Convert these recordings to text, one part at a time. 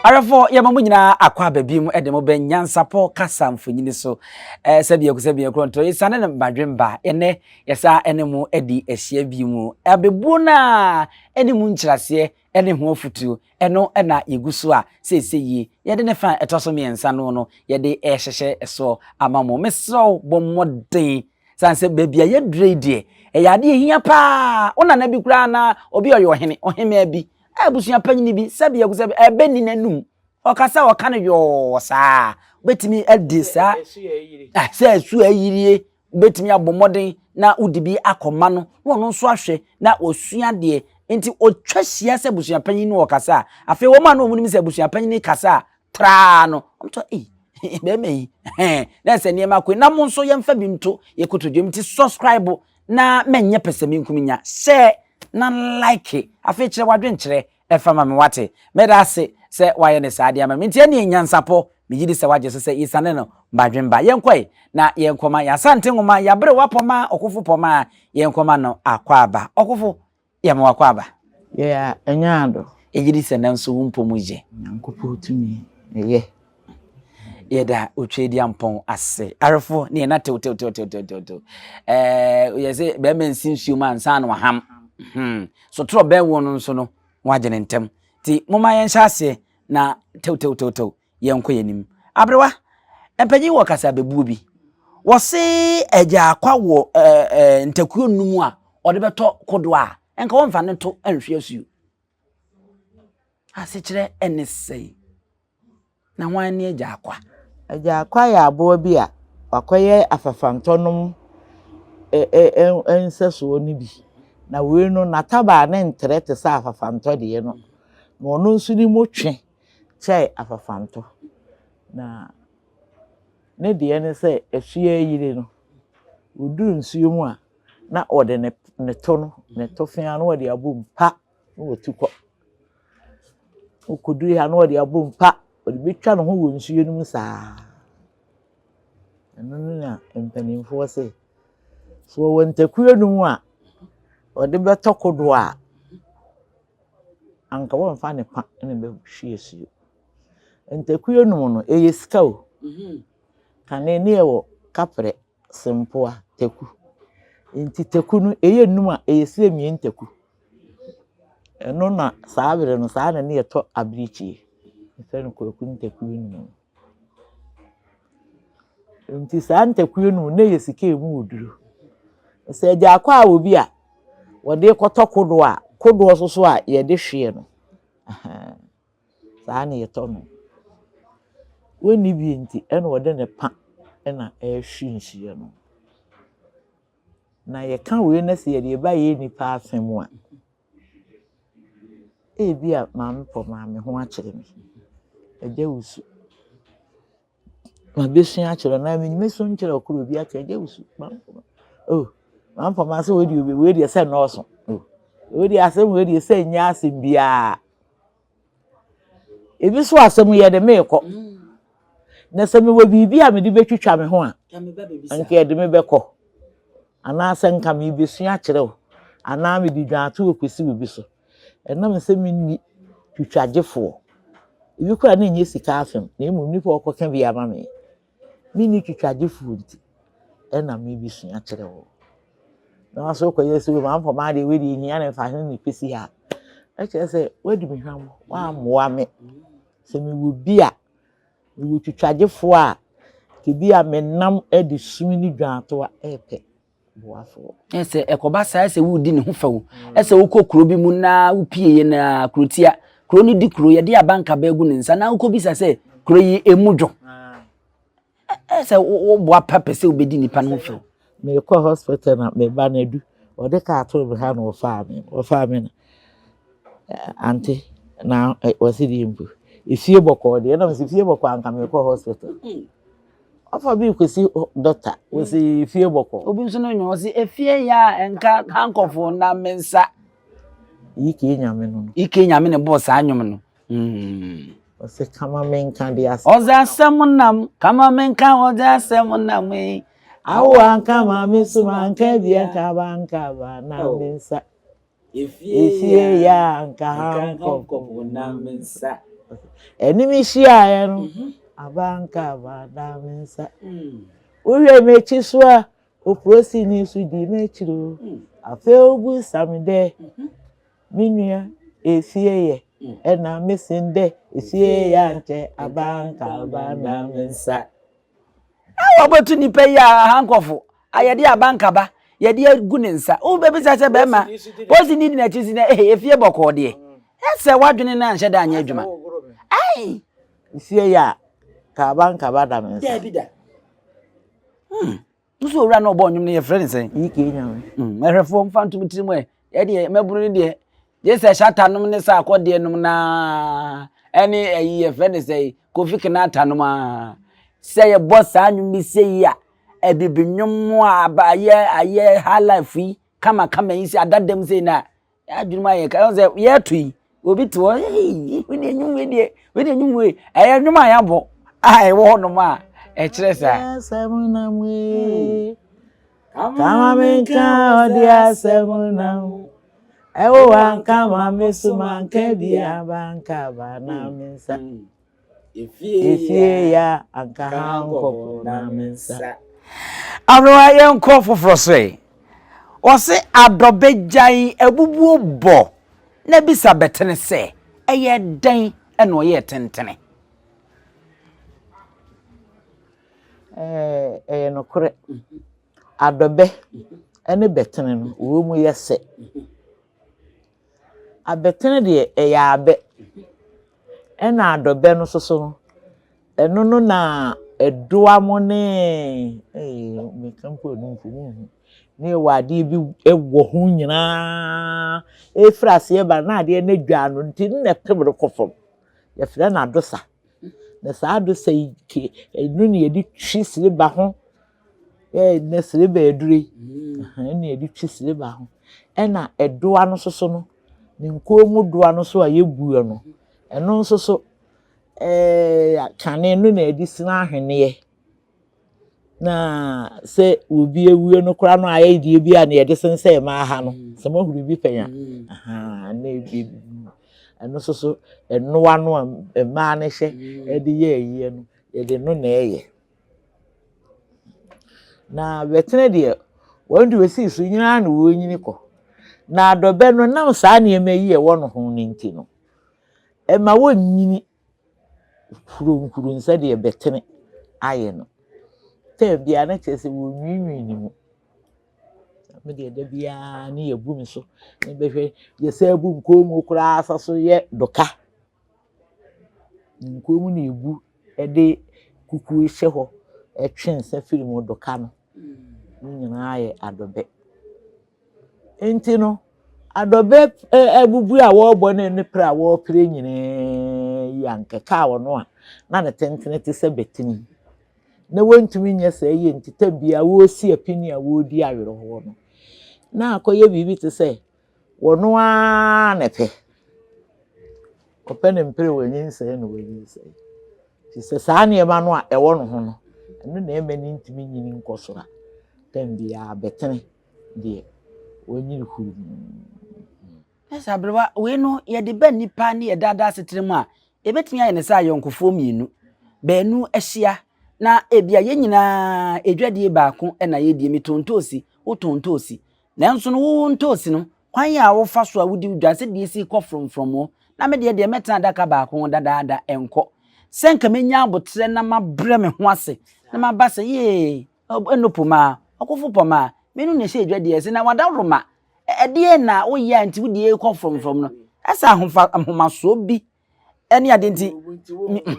Awɛfo yɛma mo nyinaa akɔ aba bi mu de mo bɛ nyansapɔ kasa mfonyini so eh, sɛ biako sɛ biako ntorɔ yɛsane no badwemba ɛnɛ yɛsa ne mo adi ahyia bi mu abebuo no a ɛne mu nkyerɛaseɛ ne ho afotuo, ɛno na yɛgu so a seesei yi. Yɛde ne fa a ɛtɔ so mmiɛnsa no no, yɛde rehyehyɛ soɔ ama mo. Mesrɛ wo, bɔ mmɔden. Sane sɛ baabi a yɛdurɛ yi deɛ, ɛyɛ adeɛ a ɛhia pa ara. Wo nana bi koraa anaa obi a ɔyɛ ɔhene, ɔhemaa bi, abusua panyin bi, sɛdeɛ gu sɛ ɛbɛnni n'anom, ɔkasa a ɔka no yɔɔ saa a, wobɛtumi adi saa, sɛ ɛso ayirie, wobɛtumi abɔ mmɔden na wode bi akɔma no na ɔno nso ahwɛ na ɔsua deɛ nti ɔtwa hyia sɛ abusuapanyin no ɔkasa a afei wɔn a na wɔn nim sɛ abusuapanyin no kasa a traa no wɔn tɔ ei bɛrima yi hɛn na ɛsɛ nneɛma akɔ na mo nso yɛmfa bi nto yɛ kotodwe mu ti subscribe na mɛnyɛ pɛsɛmenkum nya share na like afei kyerɛ wadwenkyerɛ Ɛfa ma me, wate. Meda ase sɛ woayɛ no saa de ama me. Enti ɛnneɛ, nyansapɔ, megye di sɛ woagye so sɛ yɛsiane no badwemba. Yɛnkɔ ɛ, na yɛnkɔma yɛn Asante nwoma, yɛn aberewa Pɔmma, Ɔkofo Pɔmma, yɛnkɔma no akwaaba. Ɔkofo, yɛ me w'akwaaba. Yɛ a, ɛnyɛ ado. Egye di sɛ nanso wo mpɔ mu yɛ. Nyankopɔn tumi, ɛyɛ. yɛda otwadiampɔn ase arefo ne yɛn atew tew tew tew tew tew ɛɛ yɛ sɛ bɛrima nsi nsuo mu ansa na waham hmm so torɔ bɛn wɔn no nso no wɔagye ne ntɛm ti moma yɛn hyɛ aseɛ na tew tew tew tew yɛn kɔ yɛn anim aberewa mpanyin wɔ kasa bebuo bi wɔse ɛgya akwa wɔ ɛɛ ɛɛ ntakuo nnum a ɔde bɛtɔ kodoɔ a nka wɔn nfa ne to nhwe asuo asekyerɛ ɛne sɛn. Na hwan ne Agyaakwa? Agyaakwa yɛ aboa bi a wakɔyɛ afafantɔnom nsɛsoɔ no bi. Na wei no n'atabaa no ntrɛ te sɛ afafantɔ deɛ no. Na ɔno nso ne mu twe kyɛ afafantɔ. Na ne deɛ ne sɛ ɛsoɛ yire no, ɔduru nsuo mu a na ɔde ne to no, ne tofea no na ɔde abom pa. na watu kɔ. Okodu ha na ɔde abom pa, ɔde betwa ne ho wɔ nsuo no mu saa. Ɛno no na mpanimfoɔ se, sɛ ɔwɔ ntaku anum a ɔde bɛtɔ kodoɔ a, anka wɔmfa ne pa na ɛbɛhwie asuo. Ntaku anum no, ɛyɛ sika o. Kane ne ɛwɔ kaprɛ. sempoa taku. Ntsi taku no eyɛ enum a eyesie emien taku. Ɛno na saa ber no saa na ne yɛ tɔ abirekyi. Yɛfrɛ no kwaku ntaku enum. Ntsi saa ntaku enum no na eyɛ sika emu wɔ du. Sɛ egya akɔ a wɔ bi a wɔde kɔtɔ kodoɔ a, kodoɔ soso a yɛde hweɛ no. Saa na ɛtɔ no. Wonni bi nti na ɔde ne pa na ɛrehwe nhyira no. Na yɛka wei na sɛ yɛde ba yɛn nnipa asɛm mu a, ebia maame pɔmaa me ho akyere me. Agya wusu. Mabɛsua akyerɛ no, na mɛsu nkyerɛ ɔkra obi akyerɛ no, gye wo su, mamfoma, oh, mamfoma sɛ wei deɛ wei deɛ sɛ nnɔɔso, oh, wei deɛ asɛm wei deɛ sɛ nyɛ asɛm biara. Ebi so asɛm yɛ de meekɔ. Na sɛ mewɔ biribi a mede bɛtwitwa me ho a, nka yɛde me bɛkɔ. Anaasɛ nka mebɛsua akyerɛ wo, anaa mede dwaato kɔsi wo bi so. Ɛnam sɛ minni twitwagyefoɔ, ebi koraa na ɛnyɛ sika asɛm na mmom nnipa a wɔkɔka bi ama me, menni twitwagyefoɔ nti ɛna merebɛsua kyerɛ wo. Na wɔn nso kɔyɛ sɛ wɔn amfa maa deɛ wei deɛ hia na mfa ho na ɛpɛsi ha. Ɛkyerɛ sɛ wɔadi me hwam, wɔammoa me. Sɛ mewɔ bi a, mewɔ twitwagyefoɔ a ebi a menam de sum ne dwantoa repɛ. boafo. Sɛ ɛkɔba saa sɛ woredi ne ho fɛ o, sɛ wokɔ kuro bi mu na wopieyɛ na kurotia, kuro no di kuro, yɛde abankaba agu ne nsa na wokɔbisa sɛ kuro yi ɛmu dwo. Sɛ woboa pa pɛ sɛ wobɛdi nnipa no ho fɛ o. Mekɔ hospital na meba no adu, ɔde kaa too me ha na ɔfaa me, ɔfaa me na ante na wɔsi deɛ mpo efie bɔkɔɔ deɛ ɛna mesɛ fie bɔkɔɔ anka mekɔ hospital. Ɔfa bi kɔsi dɔkta, wɔsi fie bɔkɔ. Obi nso no nyɛ ɔsi efie ya a nka hankɔfo na me nsa. Ike nyame no no. Ike nyame ne bɔɔ saa nnwom no. Mm. Ɔsɛ kama me nka de asɛm. Ɔdze asɛm nam kama me nka ɔdze asɛm nam ee. Awo anka ma me so ma nka bi anka ba anka ba na me nsa. Efie yi a anka hankɔkɔbɔ na me nsa. Anim hyiaeɛ no, aba anka aba na me nsa. Wohwɛ m'akyi so a, oprosini so di m'akyiri o. Afei wobisa me dɛ, me nua efie yɛ? Ɛna mesen dɛ, efie yɛ ankyɛ aba anka aba na me nsa. Na wɔakɔto nipa yi a aha nkɔfo a yɛde abankaba yɛde agu ne nsa wobɛbisa sɛ bɛrima posi ne di n'akyi si na ee efie bɔkɔɔ deɛ ɛsɛ wadwene no anhyɛ da anyɛ adwuma ai nsie yi a ka abankaba da me nsa daabi da hmm. Wosi owura no ɔbɔ nnwom no yɛfrɛ ne sɛn? Yi kee nyame. Mm, ɛhwɛfoɔ mfa ntom tirim ɛ. Yɛdeɛ mmabunu no deɛ gye sɛ hyata nom ne sa akɔdeɛ nom naa ɛne ɛyi yɛfrɛ ne sɛn kofi kenata nom aa. Sɛ yɛbɔ saa nnwom no sɛ yi a abibi nnwom a aba ayɛ ayɛ high life yi kama kama yi sɛ adadam sɛ yi na Yɛadwene mu ayɛ ka ɛho sɛ yɛreto yi obi te hɔ ee wei deɛ nwom wei deɛ wei deɛ nwom wei ɛyɛ nwom a yɛabɔ a ɛwɔ hɔnom a ɛkyerɛ saa. asɛm nam ee kama me nka ɔde asɛm nam ɛwo anka ma me so manka bi abanka ba na me nsa. Efie ya anka ha nkɔfo na me nsa. Anoa yɛn kɔ foforɔ so ɛ. Wɔse adɔbɛ gyan abubuo bɔ na bisa bɛtene sɛ ɛyɛ dɛn ɛna ɔyɛ tentene. Ɛyɛ nokorɛ adɔbɛ ɛne bɛtene no wɔn mu yɛ sɛ. Abɛtene deɛ ɛyɛ abɛ, ɛna adɔbɛ no nso so no, ɛno no na ɛdoa mo ne meka mpo a ɛno mpo monhu ne ɛwɔ adeɛ bi wɔ ho nyinaa ɛfiri aseɛ ba na adeɛ no adwa no nti no na ɛpem no kɔ fam yɛfrɛ no adosa na saa adosa yi ke ɛno na yɛde twi sere ba ho Ɛyɛ dɛ silver aduru yi na yɛde twi silver ho. Ɛna ɛdoa no nso so no, ne nkoa mu doa no nso a yɛbue no, ɛno nso so ɛɛɛ kane no na yɛde sini ahweneɛ. Na sɛ obi awie no koraa no ayɛ deɛ bi a na yɛde sensɛn mmaa ha no. Sɛ moahu biribi pɛn a. Na ebi ɛno nso so, ɛnoa no a mmaa no hyɛ de yɛ ayie no, yɛde ɛno na ɛyɛ. Na Bɛtserɛ deɛ wɔn de wɔsii so nyini ara na wɔrenyini kɔ. Na Dɔbɛ no nam saa nneɛma yi a ɛwɔ ne ho no nti no, ɛma wɔnyini huruhurumm sɛdeɛ Bɛtserɛ ayɛ no. Tɛɛm biara na kyerɛ sɛ wɔnwiinwii ne mu. Me deɛ da biara ne yɛbu me so, bɛhwɛ yɛsan bu nkɔn mu koraa sa so yɛ Dɔka. Nkurow mu na egu de kuku hyɛ hɔ twe nsa firi mu de ka no. Ne nyinaa yɛ adɔbɛ. Enti no, adɔbɛ ɛ abubuo a wɔrebɔ ne ne pira a wɔrepira nyinaa yi ankɛkaa ɔno a na ne tentene te sɛ batiri na wɔntumi nyɛ saa yie nti, tɛ biara wɔresi apinie a wɔredi awerɛhoɔ no, na akɔyɛ biribi te sɛ. Wɔno ara na ɛpɛ. Ɔpɛ ne mpere wɔ nyinsɛn na wɔ nyinsɛn. Nti sɛ saa nneɛma no a ɛwɔ no ho no, ɛno na ɛma ne ntumi nyini nkɔ soro a, tɛm biara bɛtene deɛ wɔnyini huru. Ɛsɛ aberewa wei no yɛde bɛ nnipa ne yɛ daadaa asetena mu a, ɛbɛtumi ayɛ ne sɛ ayɔnkofoɔ mmienu. Baanu ahyia na ebia yɛn nyinaa edwadie baako na yɛdie. Metɔn ntoosi, wotɔn ntoosi. Nanso no, wo ntoosi no, kwan a wofa so a wode wo dwa sɛ deɛ ɛsi kɔ frɔmfrɔm o, na me deɛ deɛ mɛtena adaka baako ho dadaada, ɛnkɔ. Sɛ anka mɛnya aboterɛ na mabrɛ me ho ase, na maba sɛ, Yee, ɛno po maa, ɔkofo pɔ maa, mmienu na ɛhyɛ adwa deɛ ɛse, na wadaworo ma. Ɛdeɛn na woyɛ a nti wo deɛ ɛrekɔ frɔmfrɔm no? Ɛsɛ ahofa, ahomasoɔ bi ɛne ade nti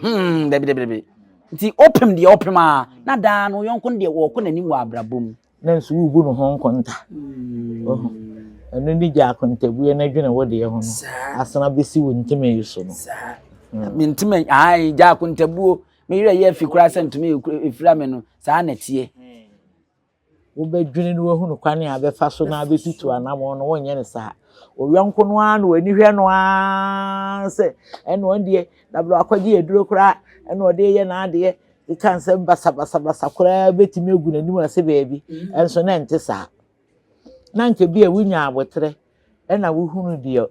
hmm, dabidabidabi nti ɔpem deɛ ɔpem a na daa no yɔnko no deɛ wɔkɔ n'anim wɔ abrabɔ mu na nso wobu no ho nkonta hmm. ɛno ne gya akontabuo no adwene wo deɛ ho no asena bɛsi wo ntoma yi so no hmm. mentoma ae gya akontabuo meyerɛ yɛ afi koraa sɛ ntoma ɛfira me no saa na ɛteɛ wobɛdwene na woahunu kwan a bɛfa so na abɛtutu anamɔn no, wonyɛ no saa. Ɔyɔnko no ara na w'ani hwɛ no ara sɛ ɛna ɔn deɛ dabere akɔgye aduro koraa ɛna ɔde yɛ n'adeɛ keka nsɛm basabasabasa koraa bɛtumi agu n'anim ase baabi ɛnso na ɛnte saa na nka bi a wonya aboterɛ ɛna wohunu deɛ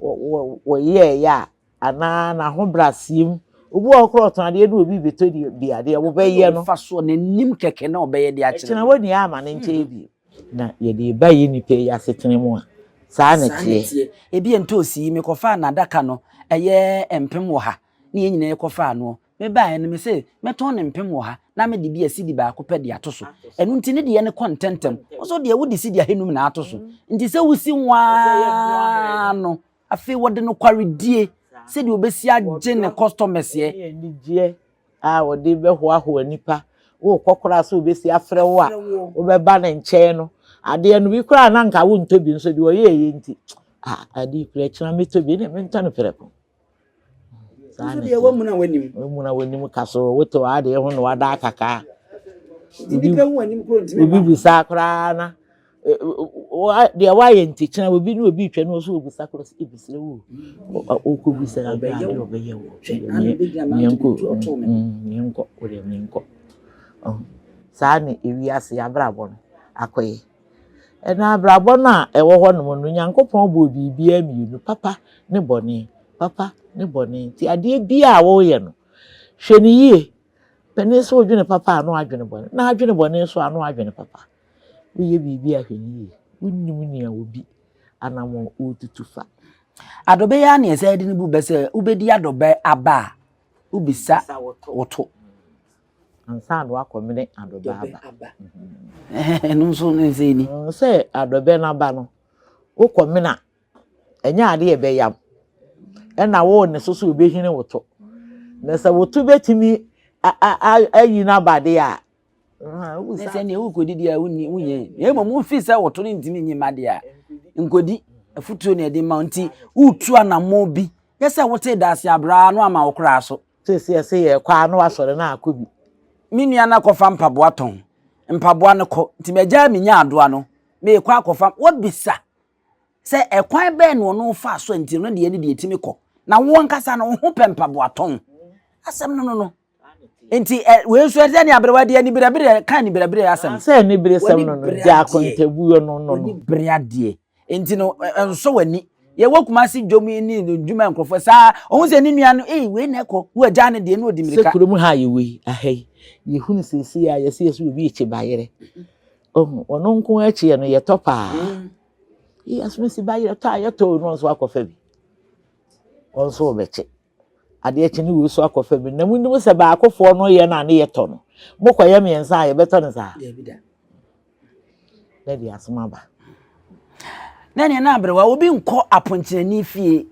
wɔyɛeɛ a anaa n'ahobrɛaseɛ mu. Obi wɔ hɔ koraa a ɔtɔn adeɛ na obi rebɛtɔ bi adeɛ a, wɔbɛyɛ no. Mfasoɔ, n'anim kɛkɛ na wɔbɛyɛ de akyerɛ no. Ɛkyena wɔ nea ama no nkyɛe bio. Na yɛde reba yɛn nnipa yi asetena mu a, saa na ɛteɛ. Ebia ntoosi yi, mekɔfaa n'adaka no ɛyɛ mpem ɔha, ne yɛn nyinaa kɔfaa noɔ. Mebaeɛ no, mesee, Mɛtɔn no mpem ɔha, na mede bi a sidi baako pɛ de ato so. Ɛno nti ne deɛ no kɔ ntɛmntɛm. Wo nso deɛ, wode sidi ahanum na ato so. Nti sɛ wosi nwaa no, afei wɔde nokwaredie, sɛdeɛ ɔbɛsi agye ne kɔstɔmɛseɛ. Ne anigyeɛ a ɔde bɛhoahoa nnipa. Worekɔ koraa sɛ ɔbɛsi afrɛ wo a, wobɛba ne nkyɛn no. Adeɛ no, bi koraa na anka wontɔ bi, nso deɛ ɔyɛeɛ nti, Ah, ade yi koraa, akyire no mɛtɔ bi. Ɛnneɛ mentɔ no prɛko. saa na ɛteɛ wamuna w'anim wamuna w'anim ka so wote w'adeɛ ho na wada akakaa obi obi bisa koraa na deɛ wayɛ ntikyina obi ne obi twɛ no so obisa koraa sɛ ebisire wo ɔkɔ bisa abɛyɛ wo ɔbɛyɛ wo miɛnkɔ miɛnkɔ wodeɛ miɛnkɔ saa na ewiase abrabɔ no akɔyɛ. Ɛnna abrabɔ no a ɛwɔ hɔnom no, Nyankopɔn bɔɔ biribiara mmienu, papa ne bɔne, papa ne bɔne. Nti adeɛ biara a woreyɛ no, hwɛ no yie. Panin sɛ wodwene papa a, na wadwene bɔne, na adwene bɔne nso a, na wadwene papa. Woyɛ biribi a, hwɛ no yie. Wonnim nea obi anammɔn ɔretutu fa. Adɔbɛ yi ara na yɛsan de no bu bɛ sɛ wobɛdi adɔbɛ aba a, wobisa wo to. Ansa na wakɔmene adɔbɛ aba. Ɛno nso ne nsɛn ni. Sɛ adɔbɛ no aba no, wokɔmene a, ɛnyɛ ade a ɛbɛyam. Ɛna wo ne so so wobɛhini wo to. Na sɛ wo to bɛtumi ayi no aba deɛ a, ne sɛ neɛ wokɔdi deɛ a wonyɛ. Na mmom wofi sɛ wo to no ntumi nyi ma deɛ a, nkɔdi afutuo na ɛde ma nti wotu anamɔ bi nyɛ sɛ wote daase abraa no ama wo koraa so Seesei ɛsɛ yɛkɔ a na wasɔre na akɔ bi. Me nua no akɔfa mpaboa tɔn. Mpaboa no kɔ. Nti magyaa me nyaadoa no, meekɔ akɔfa. Wabisa sɛ ɛkwan bɛn na ɔno faa so a nti ɔno deɛ ne deɛ ɛtumi kɔ. Na wo ankasa no, wo ho pɛ mpaboa tɔn. Asɛm no no no. Nti ɛ wei nso ɛsɛ ne aberewa de anibirɛbirɛ ka anibirɛbirɛ asɛm. Sɛ anibirɛsɛm no no, gye akontabuo no no no. Anibirɛ adeɛ. nti no nsɔ w'ani yɛwɔ kumase dwom yi ne ndwuma nkurɔfoɔ saa ɔhu sɛ ne nua no ee wei na ɛkɔ wo agya ne deɛ ne ɔdi mmirika. sɛ kurom ha a yɛwɔ yi aha yi yɛhunu seesei a yɛsɛ yɛsɛ obi ekyi bayerɛ ɔhu ɔno nko akyiɛ no yɛtɔ paa yɛsɛ si bayerɛ tɔ a yɛtɔ no nso akɔfa bi ɔnso ɔbɛkye. Adeɛ kye no wei so akɔ fa bi na monim sɛ baakofoɔ no yɛ no a ne yɛtɔ no. Mokɔyɛ mmiɛnsa a yɛbɛtɔ no saa? Daabi da. Na ɛde asom aba. Na ɛneɛ na aberewa obi nkɔ aponkyerɛni fie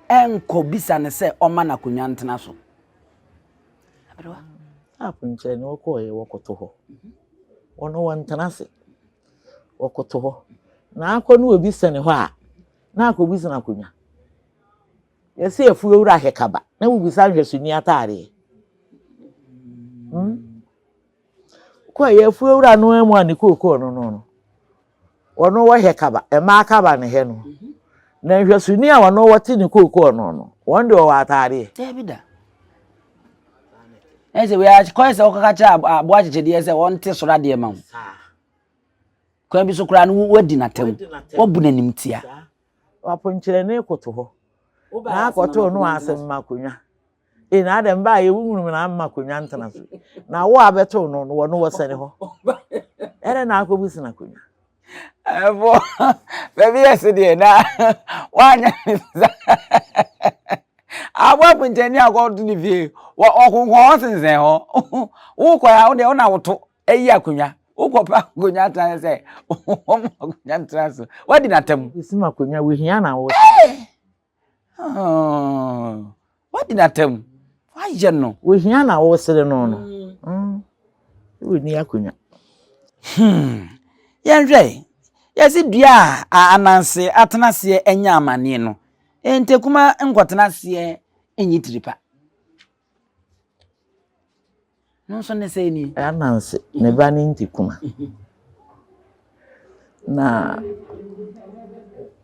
ɛnkɔ bisa no sɛ ɔma no akonnwa ntena so. Aberewa. Ah, aponkyerɛni wɔkɔɔyɛ wɔkoto hɔ. Wɔn mhm. wɔntena ase. Wɔkoto hɔ. Na akɔ no obi sɛne hɔ a na akɔbisa no akonnwa. Yɛse afuo wura hwɛ kaba na wobisa nhwɛso ni ataadeɛ. Hmm? Kɔ yɛ afuo wura no amu a ne kookoo no no no. Wɔno wɔhwɛ kaba, mmaa kaba ne hɛ no. Na nhwɛso ni a wɔno wɔte ne kookoo no no, wɔn de wɔwɔ ataadeɛ. Dabi da. Ɛsɛ wei akɔyɛ sɛ wɔkɔka kyerɛ aboa akyekyedeɛ sɛ wɔnte soro adeɛ ma wo. Kwan bi so koraa no wadi n'atam. Wɔbu n'anim tia. W'aponkyerɛne koto hɔ na akɔtoo no ase mma akonnwa. Ee, na adɛn baa yɛ wunwunum na amma akonnwa ntena so. Na wo a bɛtoo no no wɔ no wɔ sɛne hɔ. Ɛdɛn na akɔbu sena akonnwa. Ɛfo, baabi yɛ se deɛ na woanyɛ ne sa. Abɔ aponkyerɛne akɔto ne fie, wɔ ɔkonko hɔ sensɛn hɔ. Wokɔ a, wo deɛ wo na woto. Ɛyɛ akonnwa. Wokɔpɛ akonnwa atena sɛ wɔn akonnwa ntena so. Wadi n'atam. Esim akonnwa wohia na wɔ. Wadi n'atam. Wayɛ no. Wohia na wɔsere no no. Wonni akonnwa. Yɛnhwɛ. Yɛsi dua a ananse atena aseɛ anya amaneɛ no. Ntakuma nkɔtena aseɛ nyi tiripa. No nso ne sɛɛ nie. Ananse, ne ba ne Ntikuma. Na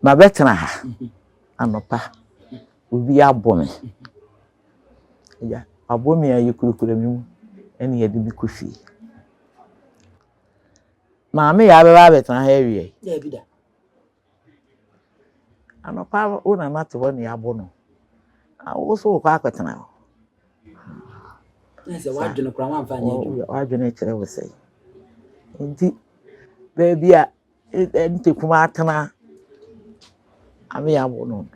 mabɛtena ha anɔpa, obi abɔ me. Agya, wabɔ me a yɛkurakura me mu ɛna yɛde me kɔ fie. Maame yɛ abɛba abɛtena ha awie? Daabi da. Anɔpa ara wo nana te hɔ nea abo no. Wo so wokɔ akɔtena hɔ. Sɛ w'adwene koraa wamfa nyɛ adwuma. W'adwene kyerɛ wo sɛ. Nti baabi a nte kuma atena ame abo no.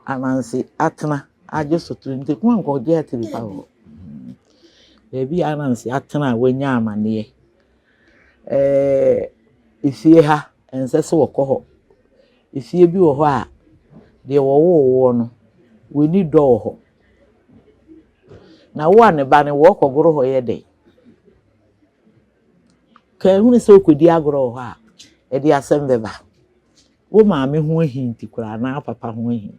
Anansi atena agye so to nte kuma nkɔgye ate bi pa hɔ. Baabi a anansi atena a wanya amaneɛ Ɛɛ fie ha, ɛnsɛ sɛ wɔkɔ hɔ. Fie bi wɔ hɔ a, deɛ wɔwoo woɔ no, w'ani dɔ wɔ hɔ. Na wo a ne ba no, wɔrekɔgoro hɔ yɛ dɛn? Ka ehunu sɛ wokɔdi agorɔ wɔ hɔ a, ɛde asɛm bɛba. Wo maame ho ahi nti koraa anaa wo papa ho ahi.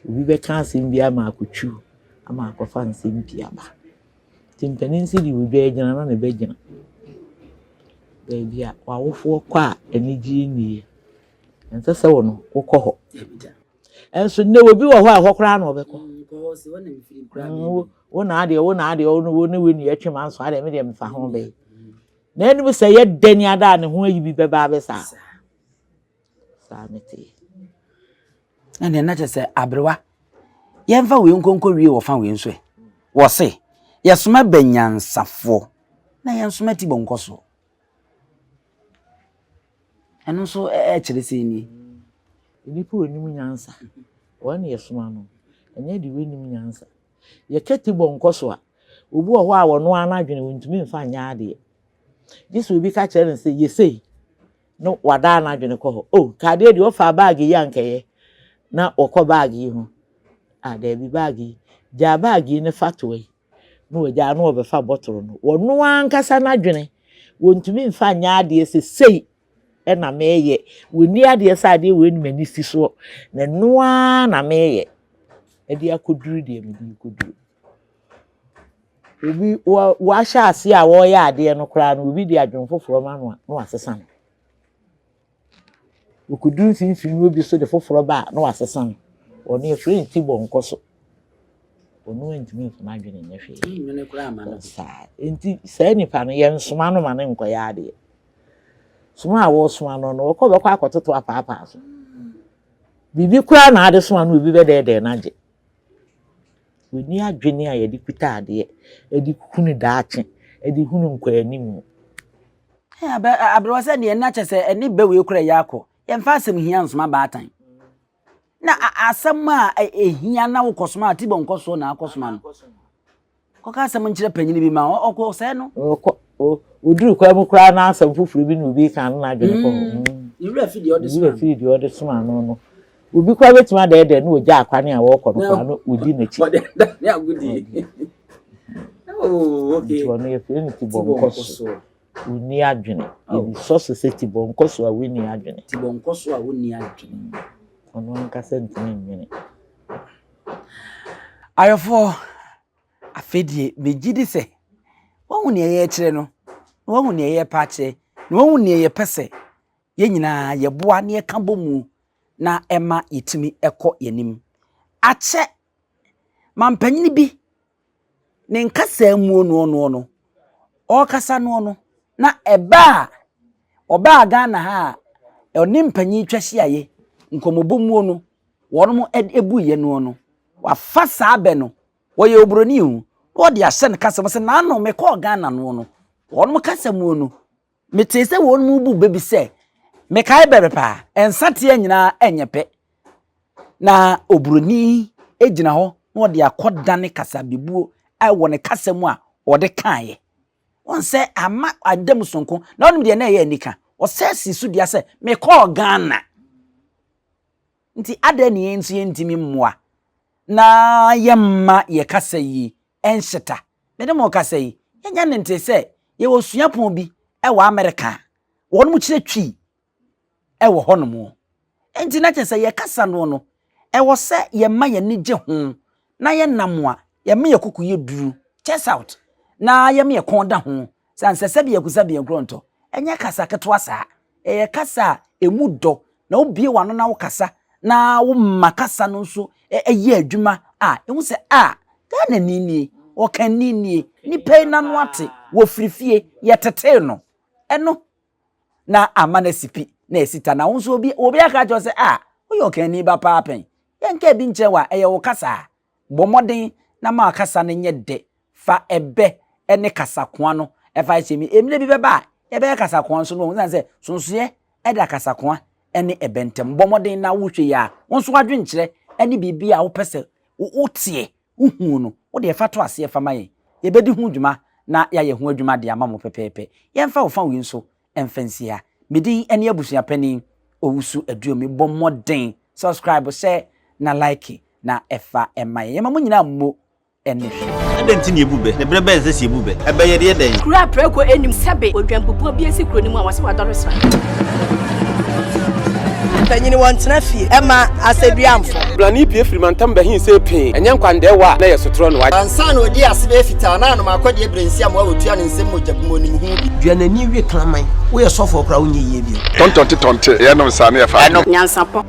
Obi bɛka asɛm bi ama akɔtwi wo ama akɔfa nsɛm bi aba. Nti mpanin se deɛ odwa agyina na ne ba gyina. Baabi a w'awofoɔ kɔ a anigyeɛ nni yɛ, ɛnsɛ sɛ wo no wokɔ hɔ. Nso nnɛ obi wɔ hɔ a ɛhɔ koraa na ɔbɛkɔ. Mm, wo na adeɛ wo na adeɛ wo ne wo ne wo ni ɛtwe ma nso adeɛ me deɛ mefa ho bɛyɛ. Na ɛnum sɛ yɛ dɛ ne ada ne ho ayi bi bɛba abɛsa. Saa ne teɛ. Ɛnneɛ na kyerɛ sɛ aberewa yɛmfa wei nkonko wie wɔ fa wei nso ɛ wɔ se yɛsoma bɛ nyansafoɔ na yɛnsoma ti bɔ nkɔsoɔ ɛno nso ɛkyerɛ sɛ ni nnipa a wɔnim nyansa wɔn na yɛsoma no ɛnyɛ de wɔnim nyansa yɛka ti bɔ nkɔso a obi wɔ hɔ a wɔn ara n'adwene wɔntumi mfa nyɛ adeɛ gye sɛ obi ka kyerɛ no sɛ yɛsei na wadaa n'adwene kɔ hɔ. O, nka adeɛ deɛ ɔfaa baage yi a nka ɛyɛ na ɔkɔ baage yi ho. A, daabi baage yi. Gyaa baage yi ne fa toa yi. Na wagyaa na ɔbɛfa bɔtoro no. Wɔno ankasa n'adwene, wɔntumi mfa nyɛ adeɛ sɛ sei na meyɛ. Wɔnni adeɛ sɛ adeɛ wei ne m'ani si soɔ, na ɛno ara na meyɛ de akɔduru deɛ mede rekɔduru. Obi wa wahyɛ aseɛ a ɔreyɛ adeɛ no koraa no obi de adwene foforɔ ma no a na wasesa no. Ɔkɔduru mfimfini no obi nso de foforɔ ba a na wasesa no. Ɔno yɛfrɛ no tibɔnkɔ so. Ɔno ntumi mfa n'adwene nyɛ hwee. Nnwene koraa ma no. Saa nti saa nipa no yɛnsoma no ma no nkɔyɛ adeɛ. Soma a wɔresoma no no ɔkɔ bɛkɔ akɔtoto apaapaa so. Biribi koraa na ade soma no obi bɛdɛɛdɛɛ no agye. Wɔnni adwene a yɛde kuta adeɛ de hunu daakye, de hunu nkɔanim. Hɛn abɛ aberewa sɛ deɛ na kyɛ sɛ ɛne bɛ wei kora yɛ akɔ. Yɛmfa asɛm hia nsoma baatan. Na asɛm a ɛhia na wokɔsoma a, tibɔ nkɔsoɔ na akɔsoma no. Kɔka asɛm nkyerɛ panyini bi ma ɔkɔ sɛɛ no. Ɔkɔ ɔduru kwan mu koraa na asɛm foforɔ bi na obi reka no na adwene kɔ hɔ. Ne werɛ firi deɛ ɔde soma no. Obi koraa bɛtumi adɛɛdɛɛ na ɔgya akwane a wɔrekɔ no koraa na ɔdi n'akyi. Ɔde adane agodie. Oh, okay. Nti ɔno yɛfrɛ no tibɔnkɔ so. Wonni adwene. Yɛde sɔ so sɛ tibɔnkɔ so a wonni adwene. Tibɔnkɔ so a wonni adwene. Ɔno ankasa ntumi nnwene. Ayɔfoɔ, afei deɛ megye di sɛ wɔahu nea yɛrekyerɛ no na wɔahu nea yɛrepa akyerɛ na wɔahu nea yɛpɛ sɛ yɛn nyinaa yɛboa na yɛka bɔ mu na ɛma yɛtumi kɔ yɛn anim. Akyɛ mampanin bi ne nkasa mu noɔnoɔ no, ɔrekasa noɔ no, na ɛbaa ɔbaa Ghana ha a ɔne mpanyin twa hyiaeɛ nkɔmmɔbɔ muo no, wɔn buiɛ noɔ no, wafa saa bɛ no, wɔyɛ oburoni o, na wɔde ahyɛ no kasa mu sɛ naano mekɔɔ Ghana noɔ no, wɔn kasa muo no, Metee sɛ wɔnom rebu bɛ bi sɛ, Mekae bere pa, nsateaa nyinaa nyɛ pɛ. Na oburoni gyina hɔ na ɔde akɔdane kasabebuo wɔ ne kasa mu a ɔde kaeɛ. Wɔn sɛ ama ada mu sonko, na wɔnom deɛ na ɛyɛ anika. Ɔsɛ si so dua sɛ, Mekɔɔ Ghana. Enti adɛn na yɛn nso yɛntumi mmoa na yɛmma yɛn kasa yi nhyeta? Mene mo kasa yi, yɛnya ne nte sɛ yɛwɔ suapɔn bi wɔ Amerika a, wɔnom kyerɛ Twi wɔ hɔnom. Enti na kyerɛ sɛ yɛn kasa no no, ɛwɔ sɛ yɛma yɛn ani gye ho na yɛ nam a yɛ me yɛ koko yɛ duru chest out na yɛ me yɛ kɔn da ho san sɛ sɛ bia kusa bia gro nto ɛnyɛ kasa ketewa saa ɛyɛ kasa a emu dɔ na wobie wano na wokasa na woma kasa no nso ɛyɛ adwuma a ehu sɛ a Ghana ni nie ɔkan ni nie nipa yi nano ate wɔ firifie yɛ tetee no ɛno na ama no asi pi na asi ta na wo nso obi obi aka kyerɛ sɛ a woyɛ ɔkanni ba paa pɛn yɛnka bi nkyerɛ wa ɛyɛ wo kasa a bɔ mmɔden na ma kasa no nyɛ dɛ fa ɛbɛ ne kasakoa no ɛfa hyɛ mi mmerɛ bi bɛba a yɛbɛyɛ kasakoa nso no wɔn sɛ sonsoeɛ ɛda kasakoa ɛne ɛbɛ ntɛm bɔ mmɔden na wohwɛ yi a wo nso adwenkyerɛ ɛne biribi a wopɛ sɛ woteɛ wohuu no, wo deɛ fa to aseɛ fa ma yɛn, yɛbɛdi ho dwuma na yɛayɛ ho adwuma de ama mo pɛpɛɛpɛ. Yɛmfa wo fa wei nso mfa nsi ha. Me din ne Abusua Panin Owusu Aduomi. Bɔ mmɔden subscribe, hyɛ na like na fa ma yɛn. Yɛma mo nyinaa mmo ne hwee. Adɛn nti na yɛbu bɛ? Ne berɛ bɛn sɛ sɛ yɛbu bɛ? Ɛbɛyɛ deɛ dɛn? Kuro a prako nnim sɛbe odwanbubuo bi asi kuro no mu a wɔse wadɔre sra. Mpanyini wɔn tena fie ɛma asɛduamfo. Blani pie firi mantam bɛhin see pee ɛnyɛ nkwandɛɛ wɔ a na ɛyɛ sotorɔ noa. Ansa na ɔdii ase bɛyɛ fitaa na anom akɔdeɛ berɛ nsi amoa ɔtua ne nsam mogya bu mu ɔnim ho bi. Dua n'ani we kraman. Woyɛ sɔfoɔ koraa wonyɛ yie bio. Tɔntɔnte tɔnte ɛyɛ nom saa ne ɛfa adeɛ. Nyansapɔ.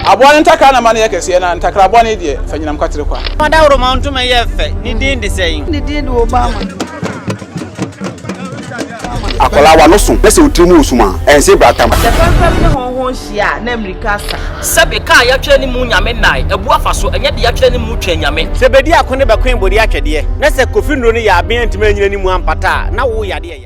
Aboa no ntakra na ma no yɛ kɛseɛ na ntakra bɔne yi deɛ fa nyinam kwatere kwa. Fa dawuroma ntoma yɛ fɛ, ne din de sɛn? Ne din de Obama. Akwadaa, w'ano so na sɛ wo tiri mu wɔ sum a, ɛnsee bratam. Sɛ pɛmpɛm ne hɔnho nhyia a, na mmirika sa. Sɛbe kaa yɛatwerɛ ne mu Nyame nnae abu afa so, ɛnyɛ de yɛatwerɛ ne mu Twɛn Nyame. Sɛ bedi ako ne bɛkoe bode atwɛdeɛ, na sɛ Kofi nnuro no yɛ aben antumi anyina ne mu ampata a, na wo yadeɛ ya.